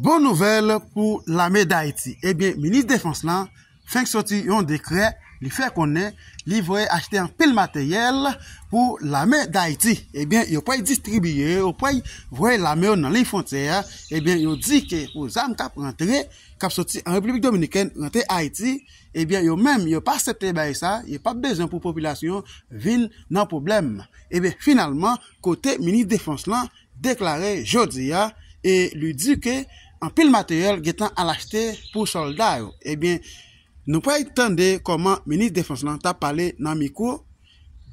Bon nouvèl pou lame dayiti ebyen minis defans lan fenk soti yon dekrè li fè konnen li voye achte anpil materyèl pou lame dayiti ebyen yo pway distribiye yo pway voye lame yo nan liy fwontyè a ebyen yo di ke pou zam kap rantre kap soti an repiblik dominikèn rantre ayiti ebyen yo menm yo pa asepte bay sa yo pap bezwen pou popilasyon vin nan pwoblèm ebyen finalman kote minis defans lan deklare jodi a e li di ke anpil materyèl gentan al achte pou sòlda yo. Ebyen, nou pral tande kòman minis defans lan ta pale nan mikwo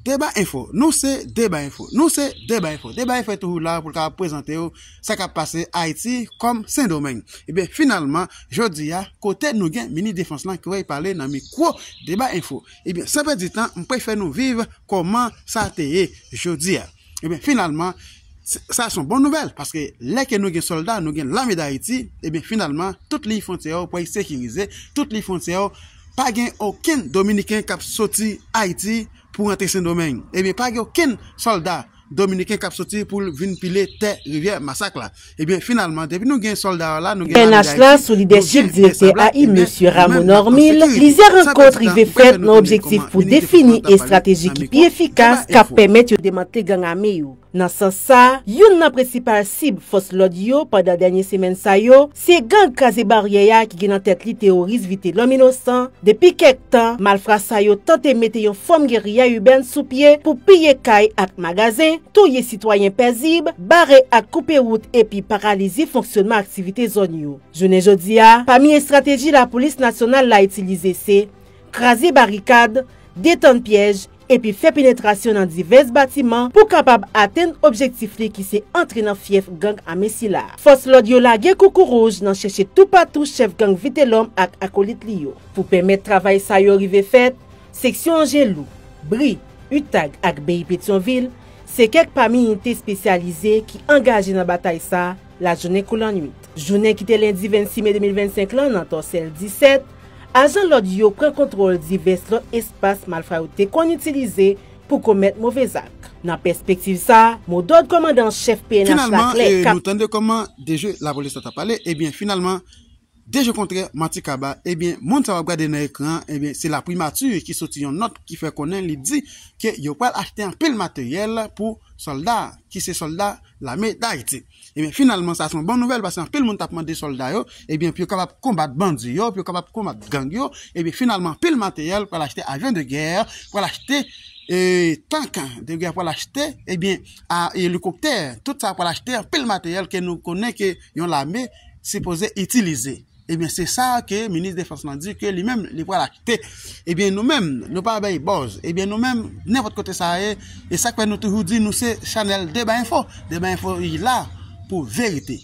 Deba Info. Nou se Deba Info. Nou se Deba Info. Deba Info toujou la pou l kapab prezante ou sa k ap pase Ayiti kòm Sendomeng. Ebyen, finalman, jodi a, kote nou gen minis defans lan ki pral pale nan mikwo Deba Info. Ebyen, san pèdi tan, m pral fè nou viv kòman sa te ye jodi a. Ebyen finalman sa son bon nouvèl paske lè ke nou gen sòlda nou gen lame dayiti ebyen finalman tout liy fontyè yo pway sekirize tout liy fontyè yo pa gen okenn dominiken kap soti ayiti pou rantre sendomeng ebyen pa gen okenn sòlda dominiken kap soti poul vin pile tè rivyè masak la. Ebyen finalman depi nou gen solda yo la nou gen lame dayiti. Pnh la sou lidèchip direktè ai mesye Rameau Normil, plizyè rankont rive fèt nan objektif pou defini estrateji ki pi efikas kap pèmèt yo demantle gang ame yo. Nan sans sa, youn nan prensipal sib fòs lòd yo pandan dènye semèn sa yo, se gang Kraze Baryè a ki gen nan tèt li teworis Vitelòm Inosan. Depi kèk tan, malfra sa yo tante mete yon fòm geriya ibèn sou pye pou piye kay ak magazen, touye sitwayen pèzib, bare ak koupe wout epi paralize fonksyonman aktivite zòn yo. Jounen jodi a, pami estrateji lapolis nasyonal la itilize se, kraze barikad, detann pyèj, epi fè penetrasyon nan divès batiman pou kapab atenn objektif li ki se antre nan fyèf gang ame sila. Fòs lòd yo lage koukouwouj nan chèche toupatou chèf gang Vitelòm ak akolit li yo. Pou pèmèt travay sa yo rive fèt, Seksyon Angelou, Bri, Utag ak Beyi Petyonvil se kèk pami inite spesyalize ki angaje nan batay sa lajounen kou lannuit. Jounen ki te lendi 26 me 2025 lan nan Tòsèl 17, ajan lòd yo pran kontwòl divès lòt espas malfra yo te konn itilize pou komèt move zak. Nan pèspektiv sa, modòd kòmandan an chèf pnh la klè, kap. Finalman, nou tande kòman de je lapolis la t ap pale, ebyen finalman. Deje kontrè manti kaba ebyen moun sa wap gade nan ekran an ebyen se la primati ki soti yon nòt ki fè konnen li di ke yo pral achte anpil materyèl pou sòlda ki se sòlda lame dayiti ebyen finalman sa se yon bon nouvèl paske anpil moun tap mande sòlda yo ebyen pou yo kapab konbat bandi yo pou yo kapab konbat gang yo ebyen finalman anpil materyèl pral achte avyon de gè pral achte ee tank de gè pral achte ebyen a elikoktè tout sa pral achte anpil materyèl ke nou konnen ke. yon lame sipoze itilize. Ebyen se sa ke minis defans lan di ke li menm li pral achte. Ebyen nou menm nou pa bay buzz. Ebyen nou menm nenpòt kote sa ye, e sak fè nou toujou di nou se chanèl deba enfo. Deba enfo li la pou verite.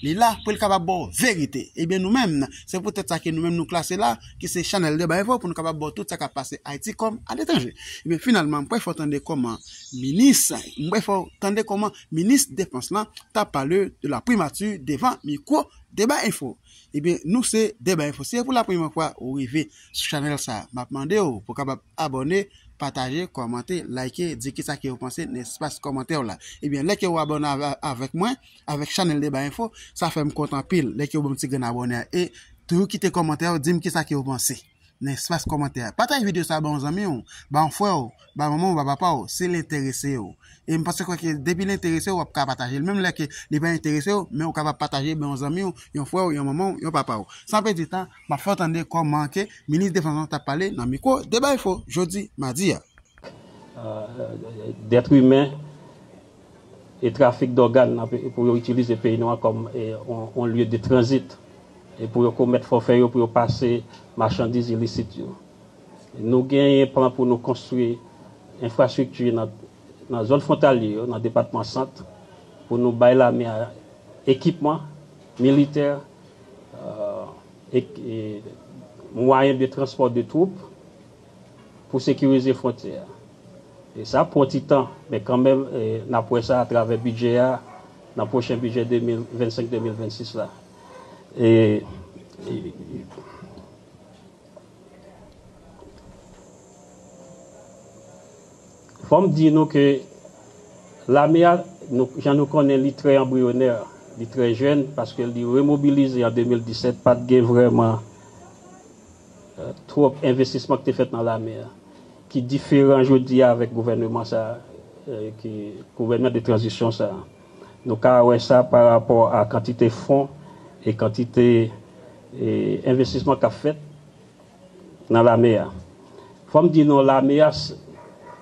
Li la pou li kapab baw verite. Ebyen nou menm se pou tèt sa ke nou menm nou klase la ki se chanèl deba enfo pou nou kapab baw tout sa kap pase Ayiti kòm aletranje. Ebyen finalman mwen pa fè w tande kòman minis, mwen pa fè w tande kòman Minis defans lan tap pale de la primati devan mikwo deba info ebyen nou se deba info si se pou la premye fwa ou rive sou chanèl sa map mandew pou kapab abòne pataje kòmante like di kisa ke ou panse nan espas kòmantèw la ebyen lè ke ou abòne avèk mwen avèk chanèl deba info sa fèm kontan anpil lè ke ou banm ti grenn abòne a e toujou kite kòmantèw dim kisa ke ou panse. nan espas kòmantè a. Pataje videyo sa a ba yon zanmi w, ba yon frè w, ba manman w, ba papa w, si l enterese yo. E m panse kwè ke depi l enterese w, w ap ka pataje l. Menm lè ke li pa enterese w, men ou kapab pataje ba yon zanmi w, yon frè w, yon manman w, yon papa w. San pèdi tan, m ap fè w tande kòman ke Minis Defans lan t ap pale nan mikwo Deba Enfo jodi madi a. dèt imen. e trafik dògàn nan peyi pou yo itilize peyi nou an kòm yon lye de tranzit e pou yo komèt fòfè yo pou yo pase machandiz ilisit yo. Nou genyen plan pou nou konstwi enfrastrikti nan zòn fwontalye yo nan depatman Sant pou nou bay lame a ekipman militè e mwayen de transpò de twoup. pou sekirize fwontyè a. E sa ap pran ti tan, men kanmenm n ap wè sa atravè bidjè a nan pwochen bidjè 2025, 2026 la. Fò m di nou ke lame a, jan nou konnen li trè anbriyonè, li trè jèn, paske li remobilize an 2017, pa t gen vrèman. Twòp envestisman ki te fèt nan lame a ki diferan jodi a avèk gouvèneman sa a, ki gouvèneman de tranzisyon sa a. Nou ka wè sa pa rapò a kantite fon e kantite envestisman k ap fèt nan lame a. Fò m di nou lame a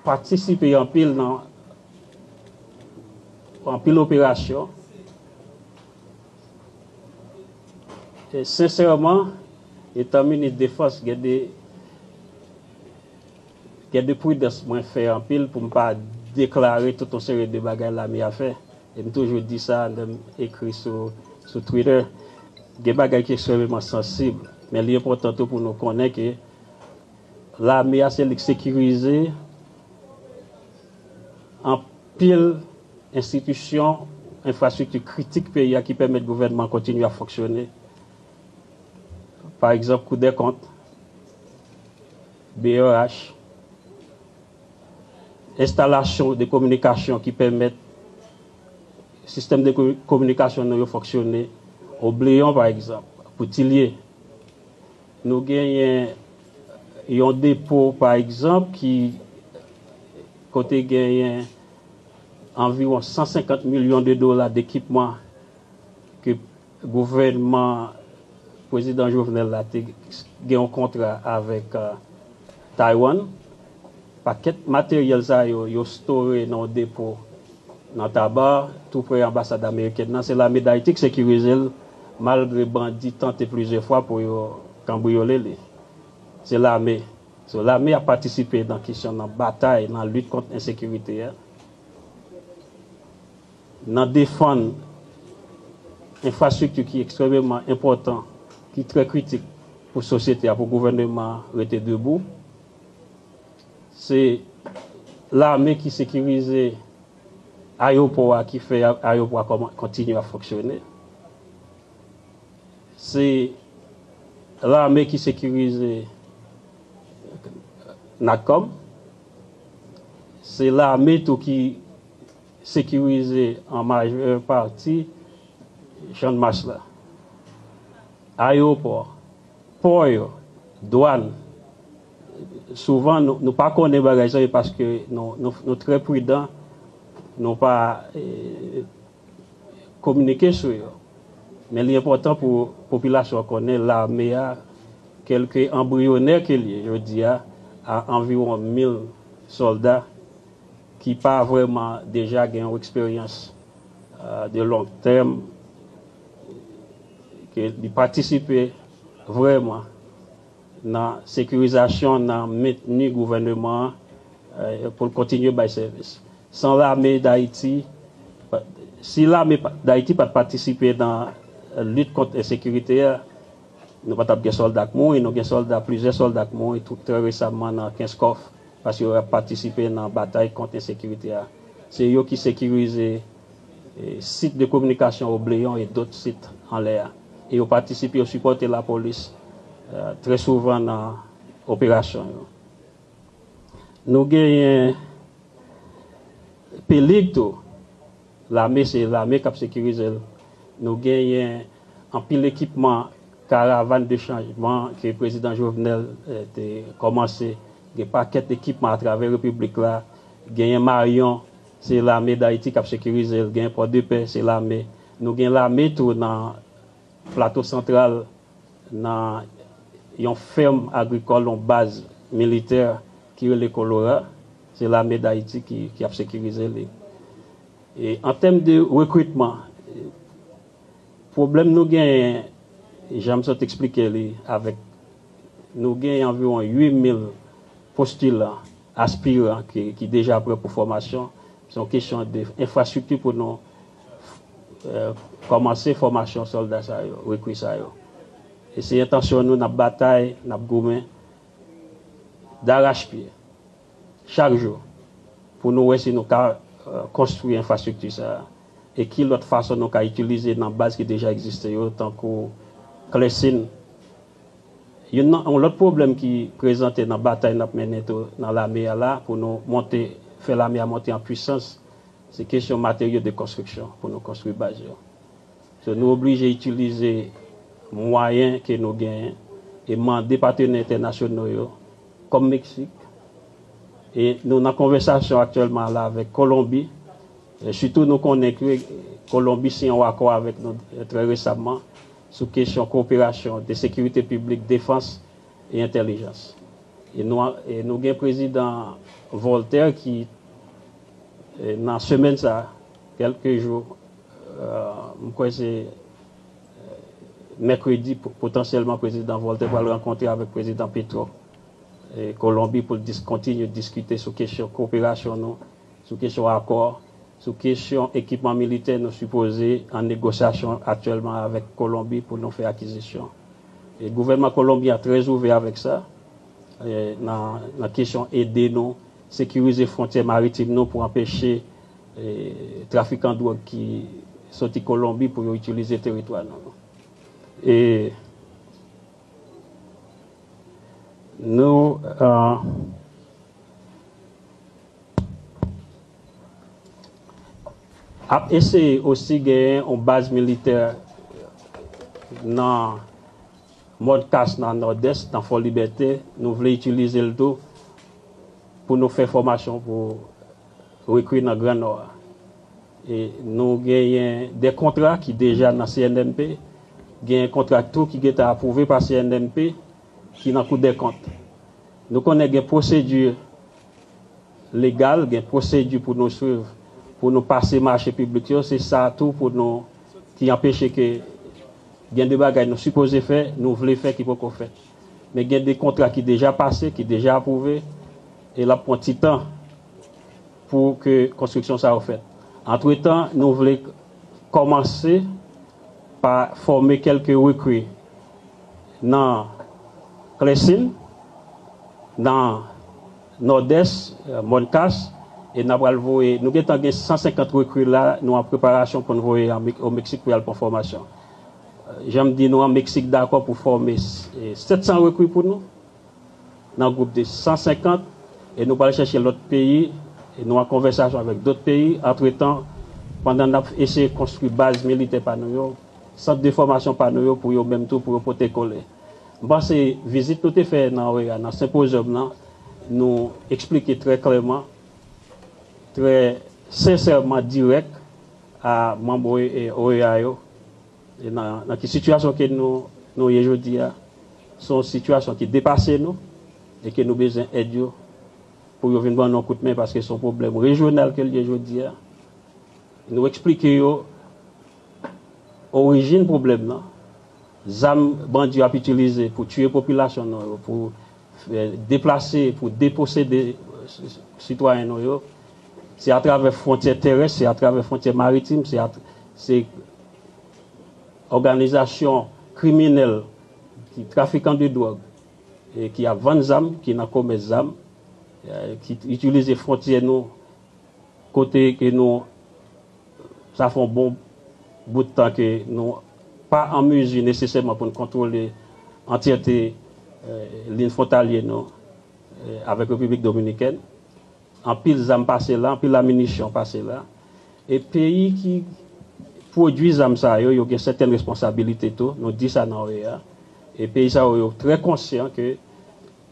patisipe anpil nan anpil operasyon. Sensèman, etan minis defans gen de gen de pridans mwen fè anpil pou m pa deklare tout yon seri de bagay lame a fè. E m toujou di sa lè m ekri sou sou Twitter. Gen bagay ki ekstrèmeman sansib, men li enpòtan tou pou nou konnen ke lame a se li k sekirize anpil Enstitisyon, enfrastrikti kritik peyi a ki pèmèt gouvènman an kontinye ap fonksyone, pa egzanp Kou dè Kont, brh, enstalasyon de kominikasyon ki pèmèt sistèm de kominikasyon nou yo fonksyone, obleyon pa egzanp, pou Tilye. Nou genyen yon depo pa egzanp ki kote genyen. anviwon 150 milyon de dola dekipman ke gouvènman Pwezidan Jovenel la te gen yon kontra avèk Taywann. Pakèt materyèl sa yo, yo store nan yon depo nan Taba, tou pre anbasad amerikèn nan. Se lame Dayiti ki sekirize l, malgre bandi tante plizyè fwa pou yo kanbriyole li. Se lame. So lame ap patisipe nan kesyon nan batay nan lit kont ensekirite a, nan defann enfrastrikti ki ekstrememan enpòtan, ki trè kritik pou sosyete a, pou gouvèneman an rete debou. Se lame ki sekirize ayewopò a, ki fè ayewopò a kontinye ap fonksyone. Se lame ki sekirize Natcom. Se lame tou ki sekirize an majè pati Channmas la. Ayewopò, pò yo, dwàn, souvan nou pa konnen bagay sa yo paske nou trè pridan, nou pa. kominike sou yo. Men li enpòtan pou popilasyon an konnen lame a, kèlke anbriyonè ke l ye jodi a, a anviwon mil sòlda ki pa vrèman deja gen yon eksperyans de long tèm, ke li patisipe vrèman nan sekirizasyon, nan mentni gouvèneman an pou l kontinye bay sèvis. San lame Dayiti, si lame Dayiti pat patisipe nan lit kont ensekirite a, nou pa t ap gen sòlda k mouri. Nou gen sòlda, plizyè sòlda k mouri trè resamman nan Kenskòf paske yo ap patisipe nan batay kont ensekirite a. Se yo ki sekirize sit de kominikasyon Obleyon e dot sit anlè a. E yo patisipe, yo sipòte lapolis trè souvan nan operasyon yo. Nou genyen Pelig tou, lame se lame k ap sekirize l. Nou genyen anpil ekipman, karavan de chanjman ke prezidan Jovenel te kòmanse. Gen pakèt ekipman atravè repiblik la. Genyen Maryon, se lame Dayiti k ap sekirize l. Genyen Pòdepè, se lame. Nou gen lame tou nan. Plato Santral nan yon fèm agrikòl yon baz militè ki rele Kolora, se lame Dayiti ki ap sekirize li. E an tèm de rekritman, pwoblèm nou genyen, jan m sot eksplike li, avèk nou genyen anviwon 8 mil postilan, aspiran ki deja prè pou fòmasyon, se yon kesyon de enfrastrikti pou nou kòmanse fòmasyon sòlda sa yo, rekri sa yo. E se entansyon nou, n ap batay, n ap goumen darachpye chak jou pou nou wè si nou ka konstwi enfrastrikti sa a e ki lòt fason nou ka itilize nan baz ki deja egziste yo tankou Klèsin. Youn nan yon lòt pwoblèm ki prezante nan batay n ap mennen tou nan lame a la pou nou monte, fè lame a monte an pwisans, Se kesyon materyo de konstriksyon pou nou konstri baz yo. So nou oblije itilize mwayen ke nou genyen e mande patenè entènasyono yo kòm Meksik e nou nan konvèsasyon aktyèlman a la avèk Kolonbi e sitou nou konnen ke Kolonbi siyen yon akò avèk nou trè resamman sou kesyon koperasyon de sekirite piblik, defans e entèlijans. E nou gen Prezidan Voltaire ki. Nan semèn sa, kèlke jou, m kwè se mèkredi, potansyèlman Prezidan Voltè pral rankontre avèk Prezidan Petro Kolonbi pou l kontinye diskite sou kesyon koperasyon nou, sou kesyon akò, sou kesyon ekipman militè nou sipoze an negosyasyon aktyèlman avèk Kolonbi pou nou fè akizisyon. Gouvènman Kolonbyen an trè ouvè avèk sa nan kesyon ede nou. Sekirize fwontyè maritim nou pou anpeche trafikan dwòg ki soti Kolonbi pou yo itilize teritwa nou. E nou. Ap eseye osi genyen yon baz militè nan. Mòd kas nan Nòdès, nan Fòlibète, nou vle itilize l tou pou nou fè fòmasyon pou rekri nan Gran Nò a. E nou genyen 2 kontra ki deja nan CNMP, genyen kontra tou ki gentan apwouve pa CNMP ki nan Koudèkont. Nou konnen gen pwosedi legal, gen pwosedi pou nou swiv pou nou pase mache piblik yo, se sa tou pou nou ki anpeche ke. Gen de bagay nou sipoze fè, nou vle fè ki poko fèt. Men gen de kontra ki deja pase, ki deja apwouve, e l ap pran ti tan pou ke konstriksyon sa yo fèt. Antretan, nou vle kòmanse pa fòme kèlke rekri nan Clessin, nan. Nòdès, Mòn Kas, e n a pral voye, nou gentan gen 150 rekri la, nou an preparasyon pou n voye o Meksik pou y al pran fòmasyon. Jan m di nou an, Meksik dakò pou fòme 700 rekri pou nou, nan gwoup de 150, e nou pral chèche lòt peyi, e nou an konvèsasyon avèk dòt peyi, antretan, pandan n ap eseye konstwi baz militè pa nou yo, sant de fòmasyon pa nou yo pou yo menm tou, pou yo pote kole. M panse vizit nou te fè nan OEA nan senpozyòm nan nou eksplike trè klèman, trè sensèman dirèk a manm OEA yo nan ki sitiyasyon ke nou ye jodi a. Se yon sitiyasyon ki depase nou e ke nou bezwen èd yo pou yo vin ban nou yon kout men paske se yon pwoblèm rejyonal ke l ye jodi a. Nou eksplike yo orijin pwoblèm nan. Zam bandi yo ap itilize pou tiye popilasyon nou yo, pou deplase, pou deposede sitwayen nou yo, se atravè fwontyè terès, se atravè fwontyè maritim, se òganizasyon kriminèl, trafikan de dwòg ki ap vann zam, ki nan komès zam, ki itilize fwontyè nou Kote ke nou sa fè yon bon bout tan ke nou pa an mezi nesesèman pou n kontwole antyète lin fwontalye nou avèk Repiblik Dominikèn. Anpil zam pase la, anpil aminisyon pase la. E peyi ki pwodui zam sa yo, yo gen sèten responsabilite tou, nou di sa nan OEA. E peyi sa yo, yo trè konsyan ke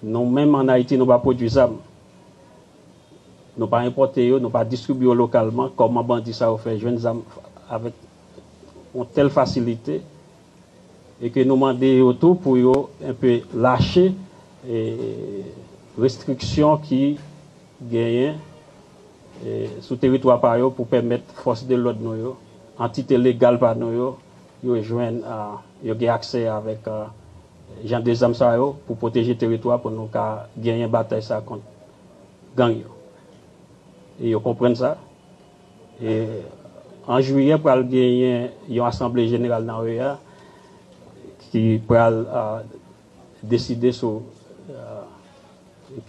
Nou menm an Ayiti nou pa pwodwi zam, nou pa enpòte yo, nou pa distribye yo lokalman, kòman bandi sa yo fè jwenn zam avèk yon tèl fasilite e ke nou mande yo tou pou yo enpe lache restriksyon ki genyen sou teritwa pa yo pou pèmèt fòs de lòd nou yo, antite legal pa nou yo, yo jwenn, yo gen aksè avèk Jan de zam sa yo pou pwoteje teritwa pou nou ka genyen batay sa kont gang yo. E yo konprann sa. E an jwiyè pral genyen yon asanble jeneral nan OEA ki pral deside sou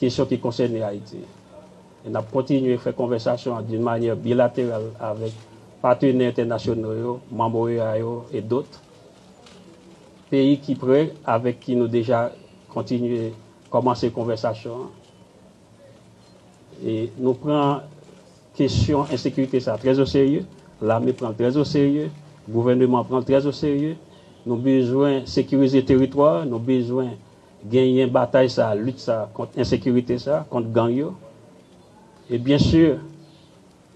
kesyon ki konsène Ayiti. E n ap kontinye fè konvèsasyon an d'une manière bilaterale avèk patenè entènasyonal yo, manm OEA yo et d'autres. peyi ki pre avèk ki nou deja kontinye kòmanse konvèsasyon an. E nou pran kesyon ensekirite sa trè o serye, lame pran l trè o serye, gouvèneman pran l trè o serye. Nou bezwen sekirize teritwa, nou bezwen genyen batay sa, lit sa kont ensekirite sa, kont gang yo. E byen si.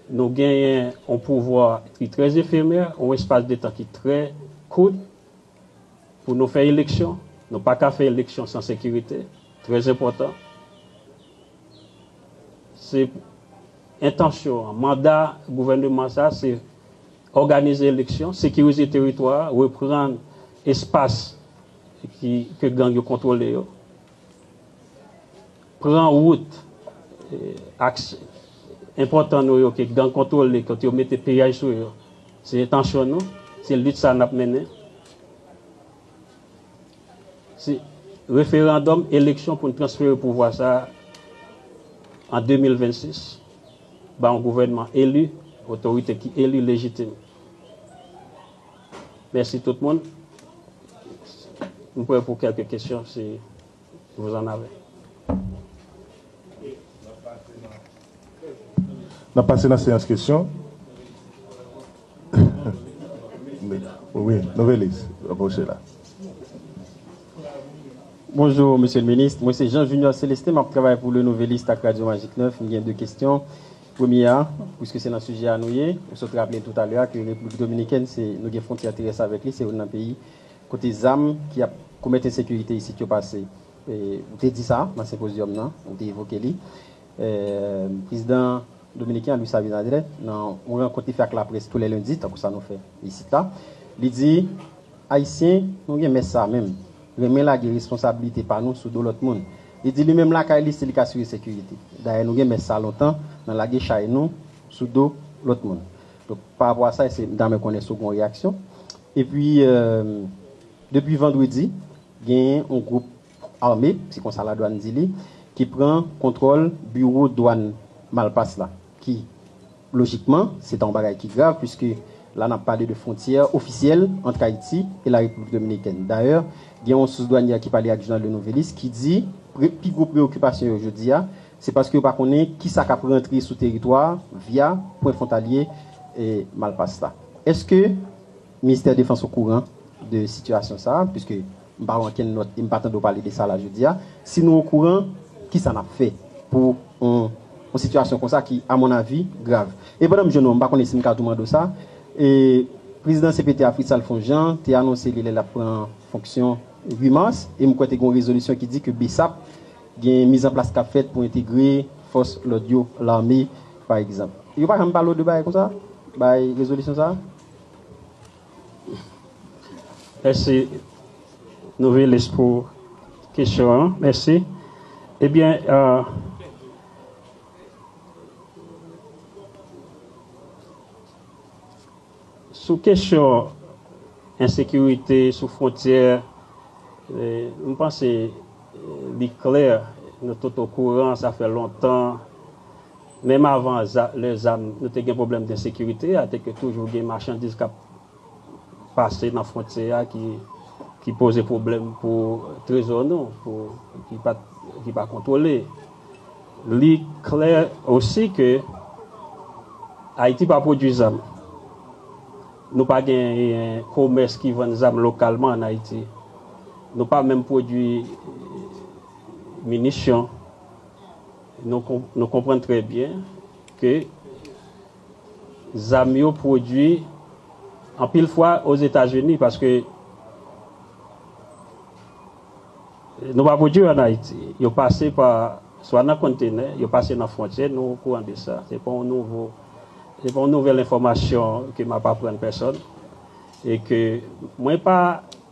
Nou genyen yon pouvwa ki trè efemè, yon espas de tan ki trè kout pou nou fè eleksyon. Nou pa ka fè eleksyon san sekirite, trè enpòtan. Se entansyon an, manda gouvèneman sa a se òganize eleksyon, sekirize teritwa a, reprann espas ke gang yo kontwole yo. pran wout aks enpòtan nou yo ke gang kontwole, kote yo mete piyaj sou yo, se entansyon nou, se lit sa a n ap mennen. Se referandòm, eleksyon pou n transfere pouvwa sa a an 2026 ba yon gouvènman eli, otorite ki eli, lejitim. Mèsi tout moun. M prè pou kèlke kesyon si vous en avez. N ap pase nan seyans kesyon. Wi, Novelis, apwoche la. Bonjou, Mesye Minis. Mwen se Jean Junior Celestin, m ap travay pou Le Nouvelliste ak Radyo Magik 9. M gen de kesyon. Premye a, pwiske se nan sijè a nou ye, ou sot raple tou talè a ke Repiblik Dominikèn se nou gen fwontyè terès avèk li, se youn nan peyi kote zam ki ap komèt ensekirite isit yo pase. Ou te di sa nan senpozyòm nan, ou te evoke li. Prezidan dominiken an, Luis Abinader, nan yon rankont li fè ak laprès tou lè lendi, tankou sa nou fè isit la, li di, Ayisyen, nou gen mès sa menm, renmen lage responsabilite pa nou sou do lòt moun. Li di li menm lakay li se li k asire sekirite. Dayè nou gen mès sa lontan nan lage chay nou sou do lòt moun. Donk pa rapò a sa se m ta renmen konnen si w gen yon reyaksyon. Epi depi vandredi genyen yon gwoup ame, se konsa ladwann di li, ki pran kontwòl biwo dwann Malpas la ki. Lojikman, se ta yon bagay ki grav puiske la n ap pale de fwontyè ofisyèl ant Ayiti e La Repiblik Dominikèn. Dayè, gen yon sous dwanyè ki pale ak jounal Le Nouvelliste ki di pre pi gwo preyokipasyon yo jodi a, se paske yo pa konnen ki sa k ap rantre sou teritwa a via pwen fwontalye Malpas la. Èske Ministè Defans okouran de sitiyasyon sa a? Puiske M pa wè ankenn nòt e m pa tande w pale de sa la jodi a. Si nou okouran, kisa n ap fè pou yon sitiyasyon konsa ki, a mon avi, grav? E pandan m jwenn ou an, m pa konnen si m ka tou mande w sa, prezidan cpt a, Fritz Alphonse Jean, te anonse li lè l ap pran fonksyon 8 mas e m kwè te gen yon rezolisyon ki di ke bsap gen mizanplas k ap fèt pou entegre fòs lòd yo, lame pa egzanp. Yo pa janm pale w de bagay konsa, bagay rezolisyon sa a? Mèsi Novelis pou kesyon an. Mèsi. Ebyen Sou kesyon ensekirite sou fwontyè m panse li klè nou tout okouran sa fè lontan Menm avan lè zam nou te gen pwoblèm densekirite a te ke toujou gen machandiz k ap pase nan fwontyè a ki poze pwoblèm pou trezò nou pou ki pa kontwole. Li klè osi ke Ayiti pa pwodui zam. Nou pa genyen komès ki vann zam lokalman an Ayiti. Nou pa menm pwodui minisyon. Nou konprann trè byen ke zam yo pwodui anpil fwa Ozetazini paske nou pa pwodui yo an Ayiti. Yo pase pa swa nan konntenè, yo pase nan fwontyè, nou okouran de sa. Se pa yon nouvo, se pa yon nouvèl enfòmasyon ke m ap aprann pèsòn e ke mwen pa.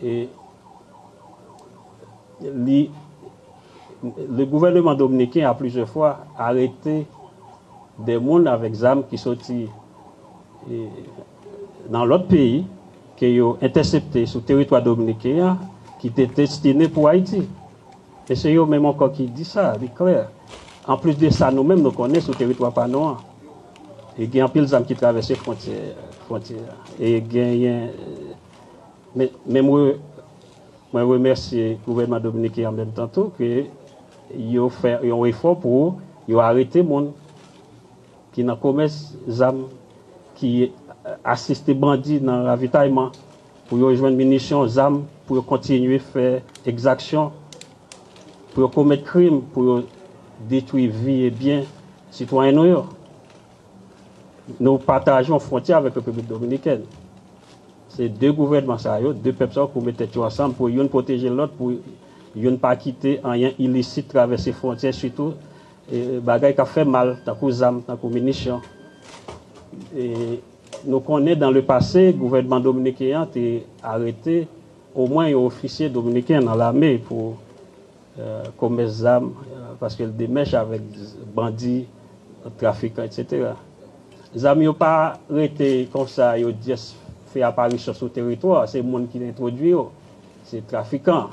E li Le gouvèneman dominiken a plizyè fwa arete de moun avèk zam ki soti nan lòt peyi ke yo entèsepte sou teritwa dominiken an ki te destine pou Ayiti. E se yo menm ankò ki di sa, li klè. Anplis de sa nou menm nou konnen sou teritwa pa nou an gen anpil zam ki travèse fwontyè a e genyen Men mwen remèsye gouvènman dominiken an menm tan tou ke yo fè yon efò pou yo arete moun ki nan komès zam, ki asiste bandi nan ravitayman, pou yo jwenn minisyon, zam, pou yo kontinye fè ekzaksyon, pou yo komèt krim, pou yo detwi vi e byen sitwayen nou yo. Nou pataje yon fwontyè avèk Repiblik Dominikèn. Se 2 gouvènman sa yo, 2 pèp sa yo pou met tèt yo ansanm pou youn pwoteje lòt pou youn pa kite anyen ilisit travèse fwontyè sitou bagay kap fè mal tankou zam, tankou minisyon. Nou konnen dan le pase gouvènman dominiken an te arete omwen yon ofisye dominiken nan lame pou. komès zam paske l demèch avèk bandi, trafikan etc. Zam yo pa rete konsa yo dyes fè aparisyon sou teritwa a, se moun ki entwodui yo, se trafikan,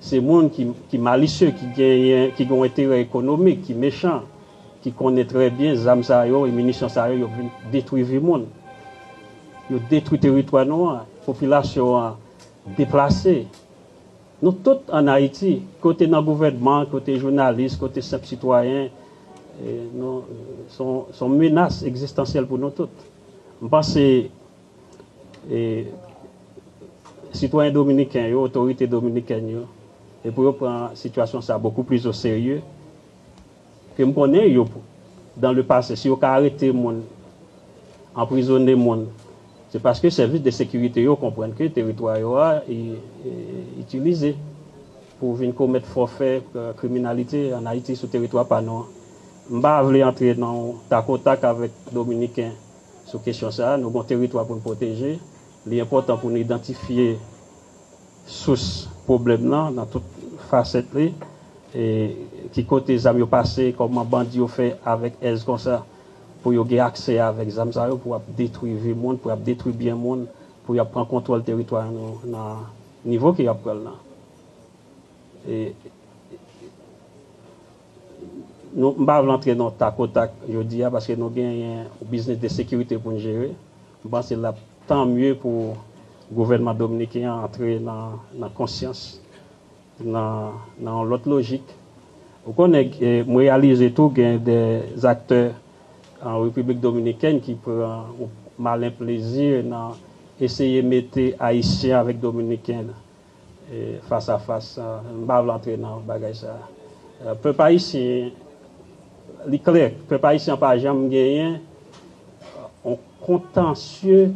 se moun ki malisye, ki gen yon enterè ekonomik, ki mechan, ki konnen trè byen zam sa yo e minisyon sa yo yo vin detwi vi moun, yo detwi teritwa nou an, popilasyon an deplase. Nou tout an Ayiti, kote nan gouvènman, kote jounalis, kote senp sitwayen, nou se yon menas ekzistansyèl pou nou tout. M panse sitwayen dominiken yo, otorite dominikèn yo, pou yo pran sitiyasyon sa bokou plis oserye. Ke m konnen yo dan le pase si yo ka arete moun, anprizone moun se paske sèvis de sekirite yo konprann ke teritwa yo a itilize pou vin komèt fòfe kriminalite an Ayiti sou teritwa pa nou an. M pa vle antre nan yon tak o tak avèk dominiken sou kesyon sa a. Nou gen yon teritwa pou n pwoteje, li enpòtan pou nou idantifye. Sous pwoblèm lan nan tout fasèt li, ki kote zam yo pase, kòman bandi yo fè avèk èz konsa pou yo gen aksè avèk zam sa yo pou ap detwi vi moun, pou ap detwi byen moun, pou yap pran kontwòl teritwa nou nan nivo ke yap pran l lan. Nou, m pa vle antre nan takotak jodi a paske nou genyen yon biznis de sekirite pou n jere. M panse l ap tan mye pou gouvènman dominiken an antre nan konsyans, nan yon lòt lojik. Ou konnen, m reyalize tou gen de zaktè an Repiblik Dominikèn ki pran yon malen plezi nan eseye mete Ayisyen avèk Dominiken Fas a fas m pa vle antre nan bagay sa pèp ayisyen li klè pèp ayisyen an pa janm genyen yon kontansye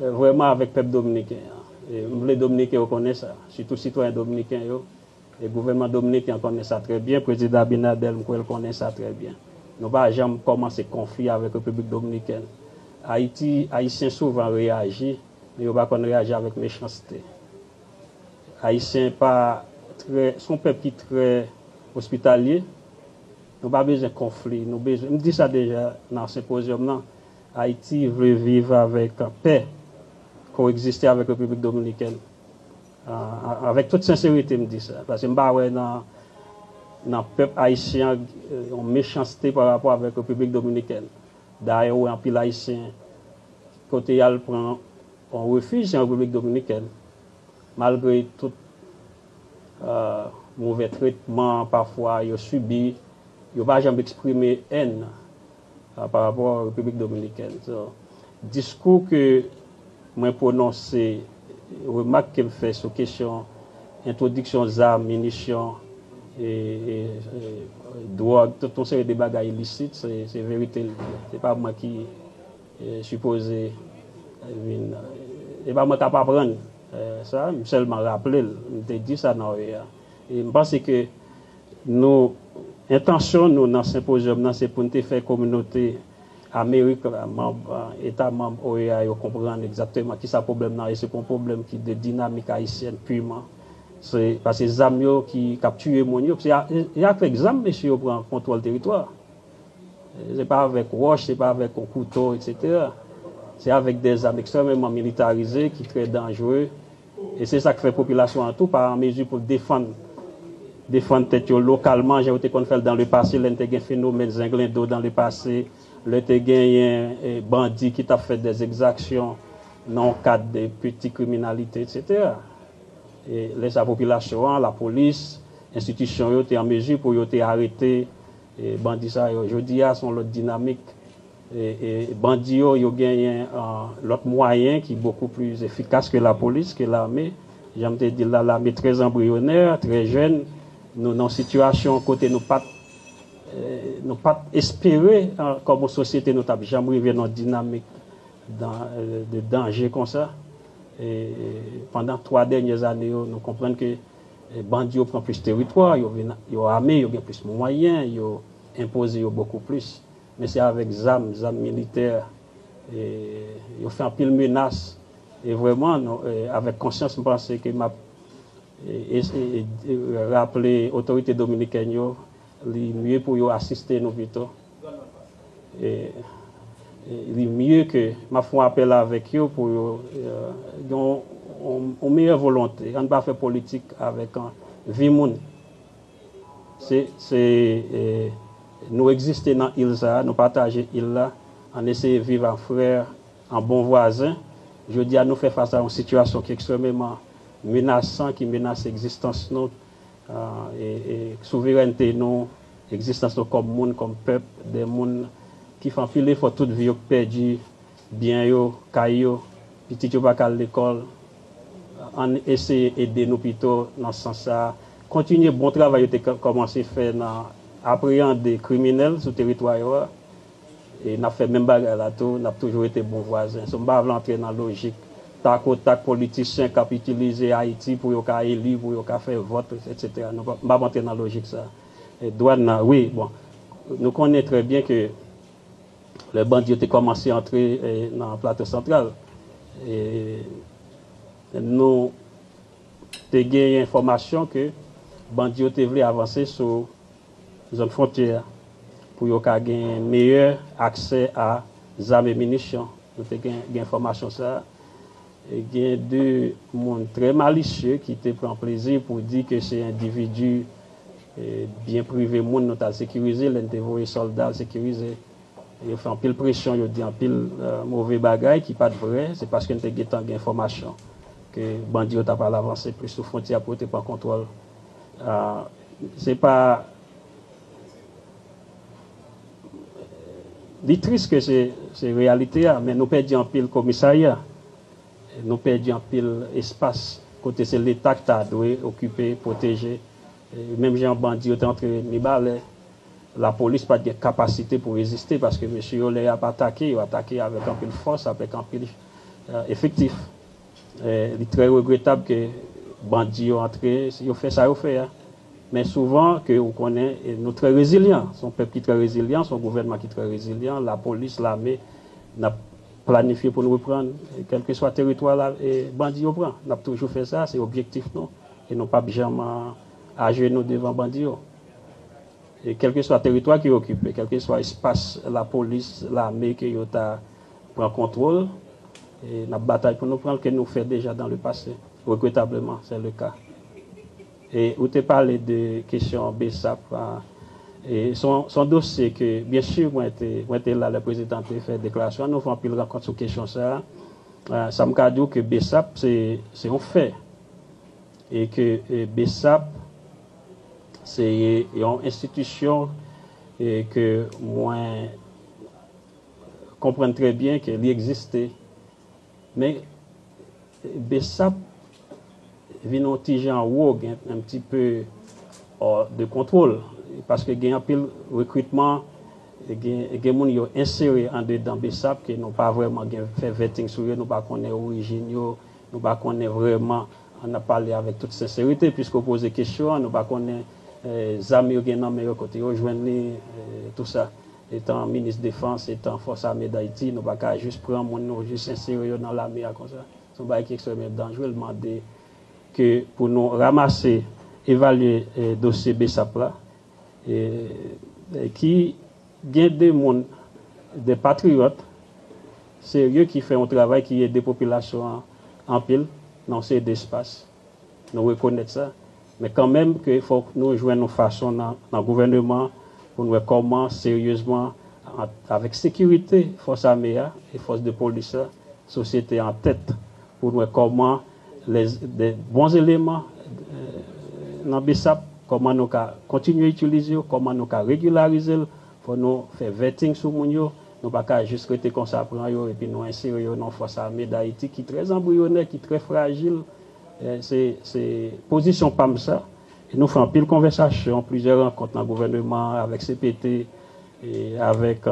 vrèman avèk pèp dominiken an m vle dominiken yo konnen sa sitou sitwayen dominiken yo e gouvènman dominiken an konnen sa trè byen prezidan abinadèl m kwè l konnen sa trè byen nou pa janm kòmanse konfli avèk repiblik dominikèn ayiti ayisyen souvan reyaji. Yo pa konn reaji avèk mechanste. Ayisyen pa trè, se yon pèp ki trè ospitalye. Nou pa bezwen konfli, nou bezwen, m di sa deja nan senpozyòm nan, Ayiti vle viv avèk pè, koegziste avèk Repiblik Dominikèn. Avèk tout senserite m di sa, paske m pa wè nan nan pèp ayisyen an yon mechanste parapò avèk Repiblik Dominikèn. Dayè ou wè anpil Ayisyen pote y al pran yon refij an Repiblik Dominikèn malgre tout move tretman pafwa yo sibi, yo pa janm eksprime èn parapò Repiblik Dominikèn. Diskou ke Mwen pwononse remak ke m fè sou kesyon entwodiksyon zam, minisyon, dwòg, tout yon seri de bagay ilisit, se verite l ye. Se pa mwen ki sipoze vin, se pa mwen k ap aprann sa, m sèlman raple l, m te di sa nan OEA. E m panse ke nou, entansyon nou nan senpozyòm nan se pou n te fè kominote Amerik, manb, eta manb OEA yo konprann egzakteman kisa pwoblèm nan ye, se pa yon pwoblèm ki de dinamik ayisyèn piman, se paske zam yo ki kap tiye moun yo, se avèk zam mesye yo pran kontwòl teritwa, se pa avèk wòch, se pa avèk yon kouto, etc. Se avèk de zam ekstrèmeman militarize ki trè danjre E se sa k fè popilasyon an tou pa an mezi pou l defann defann tèt yo lokalman jan yo te konn fè l dan le pase lè n te gen fenomèn zenglendo dan le pase lè te genyen bandi ki t ap fè dè egzaksyon nan yon kad de piti kriminalite eksetera. E lè sa popilasyon an, lapolis, enstitisyon yo te an mezi pou yo te arete bandi sa yo. Jodi a se yon lòt dinamik. Bandi yo, yo genyen lòt mwayen ki bokou pli efikas ke lapolis, ke lame. Jan m te di l la, lame trè anbriyonè, trè jèn. Nou nan yon sitiyasyon kote nou pa t nou pa t espere kòm yon sosyete nou t ap janm rive nan yon dinamik de danje konsa. Pandan twa dènyè ane yo, nou konprann ke bandi yo pran plis teritwa, yo vin yo ame, yo gen plis mwayen, yo enpoze yo bokou plis. Men se avèk zam, zam militè, yo fè anpil menas. E vrèman, avèk konsyans m panse ke m ap raple otorite dominikèn yo, li mye pou yo asiste nou pito. Li mye ke, m ap fè yon apèl avèk yo pou yo gen yon meyè volonte. Ann pa fè politik avèk vi moun. Se Nou egziste nan il sa a, nou pataje il la, ann eseye viv an frè, an bon vwazen. Jodi a nou fè fas a yon sitiyasyon ki ekstrèmeman menasan, ki menase egzistans nou, souverènte nou, egzistans nou kòm moun, kòm pèp, de moun ki fè anpil efò tout vi yo, ki pèdi Byen yo, kay yo, pitit yo pa ka al lekòl, ann eseye ede nou pito nan sans sa a, kontinye bon travay yo te kòmanse fè nan apreyande kriminèl sou teritwa yo a, e n ap fè menm bagay la tou, n ap toujou rete bon vwazen. So m pa vle antre nan lojik tak o tak politisyen k ap itilize Ayiti pou yo ka eli, pou yo ka fè vòt, etsetera, m p ap antre nan lojik sa a. Dwàn nan, wi, bon, nou konnen trè byen ke. Lè bandi yo te kòmanse antre nan Plato Santral, nou te genyen enfòmasyon ke bandi yo te vle avanse sou zòn fwontyè a pou yo ka gen meyè aksè a zam e minisyon. Nou te gen enfòmasyon sa a. Gen de moun trè malisye ki te pran plezi pou di ke se endividi Byen prive moun nou t al sekirize lè n te voye sòlda al sekirize. Yo fè anpil presyon, yo di anpil move bagay ki pa t vrè. Se paske n te gentan gen enfòmasyon ke bandi yo t ap al avanse plis sou fwontyè a pou yo te pran kontwòl. Se pa. Li tris ke se reyalite a, men nou pèdi anpil komisarya. Nou pèdi anpil espas kote se leta ki ta dwe okipe, pwoteje. Menm jan bandi yo te antre Mibalè, lapolis pa t gen kapasite pou reziste paske mesye yo lè y ap atake, yo atake avèk anpil fòs, avèk anpil efektif. Li trè regretab ke bandi yo antre, yo fè sa yo fè a. Men souvan ke ou konnen nou trè rezilyan. Se yon pèp ki trè rezilyan, se yon gouvènman ki trè rezilyan, lapolis, lame, n ap. Planifye pou n reprann kèlkeswa teritwa bandi yo pran. N ap toujou fè sa, se objektif nou e nou pap janm ajenou devan bandi yo. Kèlkeswa teritwa ke yo okipe, kèlkeswa espas lapolis, lame ke yo ta pran kontwol, n ap batay pou nou pran l ke nou fè deja dan le pase. Regretableman, sè le ka. E ou te pale de kesyon bsap la, e se yon dosye ke byen si mwen te la lè prezidan te fè deklarasyon an, nou fè anpil rankont sou kesyon sa a. Sa m ka di w ke bsap se yon fè e ke bsap se yon enstitisyon ke mwen konprann trè byen ke li egziste. Men Bsap vin on ti jan wo gen un petit peu hors de contrôle paske gen anpil rekritman gen moun yo ensere andedan Bsap ke nou pa vrèman gen fè vetting sou yo nou pa konnen orijin yo nou pa konnen vrèman an ap pale avèk tout senserite puiske ou poze kesyon an nou pa konnen zam yo gen nan men yo kote yo jwenn li tout sa. Etan minis defans, etan fòs ame Dayiti, nou pa ka jis pran moun nou jis ensere yo nan lame a konsa. Se yon bagay ki ekstrèmman danjre, l mande ke pou nou ramase, evalye dosye bsap la, ki gen 2 moun, 2 patriyòt serye ki fè yon travay ki ede popilasyon an anpil nan yon seri de espas. Nou rekonèt sa. Men kanmenm ke fòk nou jwenn yon fason nan gouvèneman pou n wè kòman seryezman avèk sekirite fòs ame a e fòs de polis la, sosyete an tèt pou n wè kòman de bon eleman nan bsap kòman nou ka kontinye itilize yo, kòman nou ka regilarize l, fò nou fè vetting sou moun yo. Nou pa ka jis rete konsa pran yo epi nou ensere yo nan fòs ame Dayiti ki trè zanbriyonè, ki trè frajil. Se pozisyon pa m sa. E nou fè anpil konvèsasyon, plizyè rankont nan gouvèneman an, avèk cpt, avèk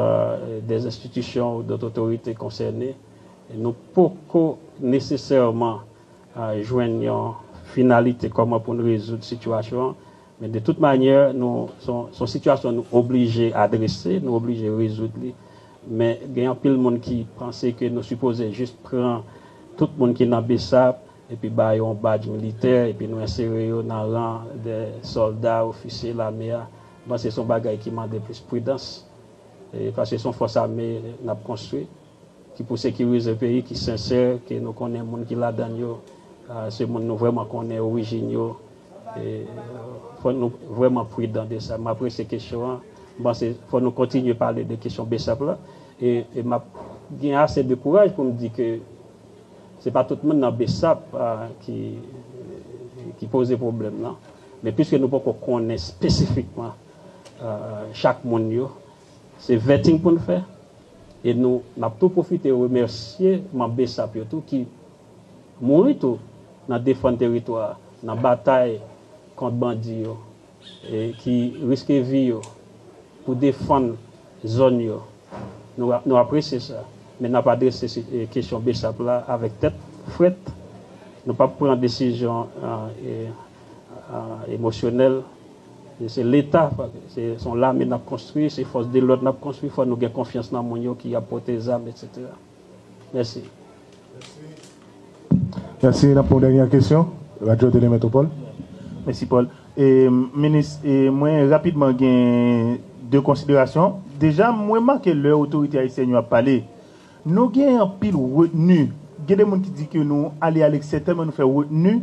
dè enstitisyon ou dòt otorite konsène. Nou poko nesesèman jwenn yon finalite kòman pou n rezoud sitiyasyon an. Men de tout manyè, nou, se yon sitiyasyon nou oblije adrese, nou oblije rezoud li. Men gen anpil moun ki panse ke nou sipoze jis pran tout moun ki nan bsap epi ba yo yon badj militè epi nou ensere yo nan ran dè sòlda, ofisye lame a. M panse se yon bagay ki mande plis pridans. Paske se yon fòs ame n ap konstwi. ki pou sekirize peyi, ki sensè, ke nou konnen moun ki ladan l yo, se moun nou vrèman konnen orijin yo. Fò nou vrèman pridan de sa. M apresye kesyon an. M panse fò nou kontinye pale de kesyon Bsap la. E m ap gen ase de kouraj pou m di ke se pa tout moun nan Bsap ki poze pwoblèm nan. Men piske nou poko konnen spesifikman chak moun yo, Se vetting pou n fè e nou n ap tou pwofite remèsye manm bsap yo tou ki mouri tou nan defann teritwa a nan batay kont bandi yo e ki riske vi yo pou defann zòn yo. Nou nou apresye sa men n ap adrese kesyon bsap la avèk tèt frèt. Nou p ap pran desizyon emosyonèl Se leta, se yon lame n ap konstwi, se fòs de lòd n ap konstwi, fò nou gen konfyans nan moun yo ki ap pote zam etsetera. Mèsi. Mèsi. N ap pran yon dènyè kesyon, Radyo Tele Metwopòl. Mèsi Paul. Minis, mwen rapidman gen 2 konsiderasyon. Deja m remake lè otorite ayisyèn yo ap pale, nou gen anpil retni. Gen de moun ki di ke nou ale aleksè tèlman nou fè retni,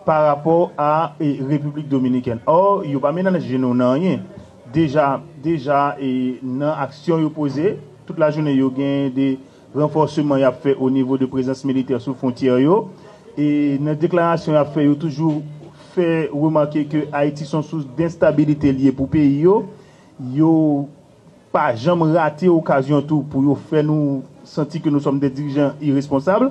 pa rapò a Repiblik Dominikèn. Ò, yo pa menanje nou nan anyen. Deja, deja nan aksyon yo poze, tout lajounen yo gen de ranfòseman y ap fè onivo de prezans militè sou fwontyè yo. E nan deklarasyon y ap fè, yo toujou fè remake ke Ayiti son sous denstabilite l ye pou peyi yo. Yo pa janm rate okazyon tou pou yo fè nou santi ke nou sòm dè dirijan iresponsab.